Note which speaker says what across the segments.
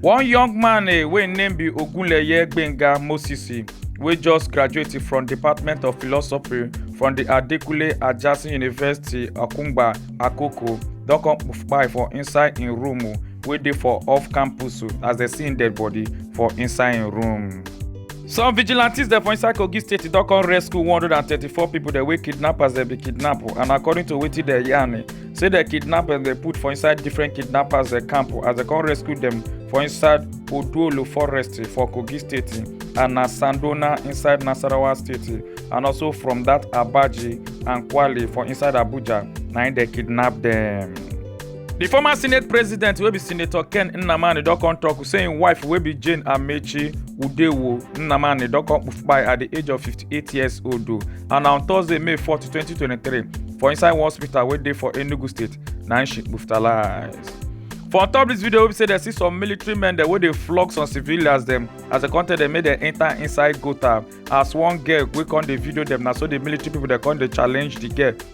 Speaker 1: One young man eh, wey name be Ogunleye Gbenga Moses eh, wey just graduate from Department of Philosophy from the Adekunle Ajasin University Akungba Akoko don come kpai for inside im room oh, wey dey for off campus oh, as dem see im dead body for inside im room. Some vigilantes dem for inside Kogi state don come rescue 134 pipo dem wey kidnappers dem bin kidnap oh, and according to wetin dem yarn eh, say the kidnappers they put for inside different kidnappers the camp as they come rescue them for inside oduolo forest for kogi state and na sandona inside nasarawa state and also from that abaji and kwale for inside abuja na im dey kidnap them. di former senate president wey be senator ken nnamani don come tok say im wife wey be jane amechi udewo nnamani don come kpai at di age of 58 years old o and na on thursday may 4 2023 for inside one hospital wey dey for enugu state na im she hospitalize. for on top dis video wey be say dem see some military men dem wey dey flog some civilians dem as dem come tell dem make dem enter inside gutter as one girl wey come dey video dem na so di military pipo dem come dey challenge di girl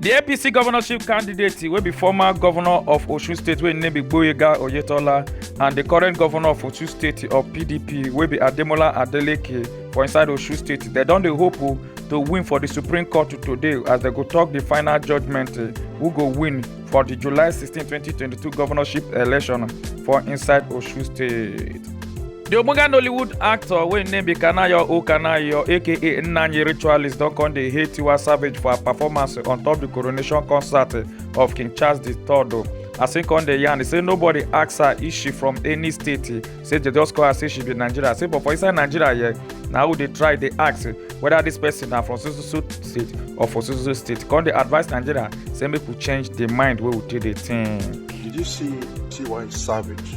Speaker 1: di apc governorship candidate wey be former governor of osun state wey im name be gboyega oyetola and di current governor of osun state of pdp wey be ademola adeleke for inside osun state dem don dey hope o to win for di supreme court today as dem go tok di final judgement eh, who go win for di july 16 2022 governorship election for inside osun state. The Ogbonga Nollywood actor wey name be Kanayo O Kanayo aka Nnanyi Ritualist don come dey hate Tiwa Savage for her performance on top the coronation concert of King Charles III. As he come dey yarn, he say nobody ask her if she from any state. He say they just call her say she be Nigeria. Say but for inside Nigeria here, na who dey try dey ask whether this person na from so so so state or for so so so state. Come dey advise Nigeria say make we change the mind wey we take dey think. Did you see T.Y. Savage?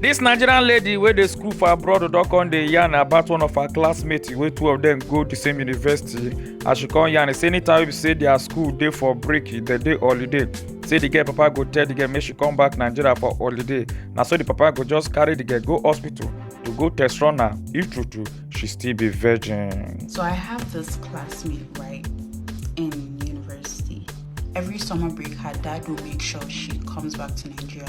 Speaker 1: This Nigerian lady wey dey school for abroad don come dey yarn about one of her classmates wey two of them go the same university as she come yarn say anytime wey be say their school dey for break dem dey holiday say the girl papa go tell the girl make she come back Nigeria for holiday na so the papa go just carry the girl go hospital to go test run her if true true she still be virgin. So I have this classmate right in university. Every summer break, her dad will make sure she comes back to Nigeria.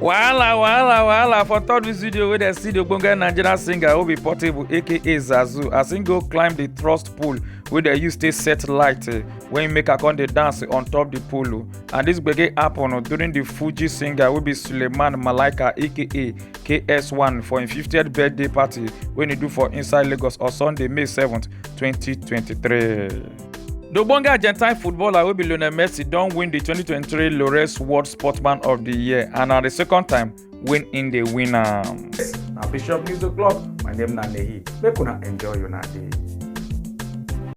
Speaker 1: wahala wahala wahala for third this video wey dem see the ogbonge nigerian singer wey be portable aka zazu as im go climb the thrust pole wey dem use take set light eh, wey im make her come dey dance on top the pole oh. and this gbege happen oh, during the fuji singer wey be suleiman malaika aka ks1 for im 50th birthday party wey e do for inside lagos on sunday may 7 2023. The Ogbonge Argentine footballer wey be Lionel Messi don win the 2023 Lores World Sportsman of the Year and na the second time when im dey win am. Na Bishop News O'Clock, my name na Nehi, make una enjoy una day.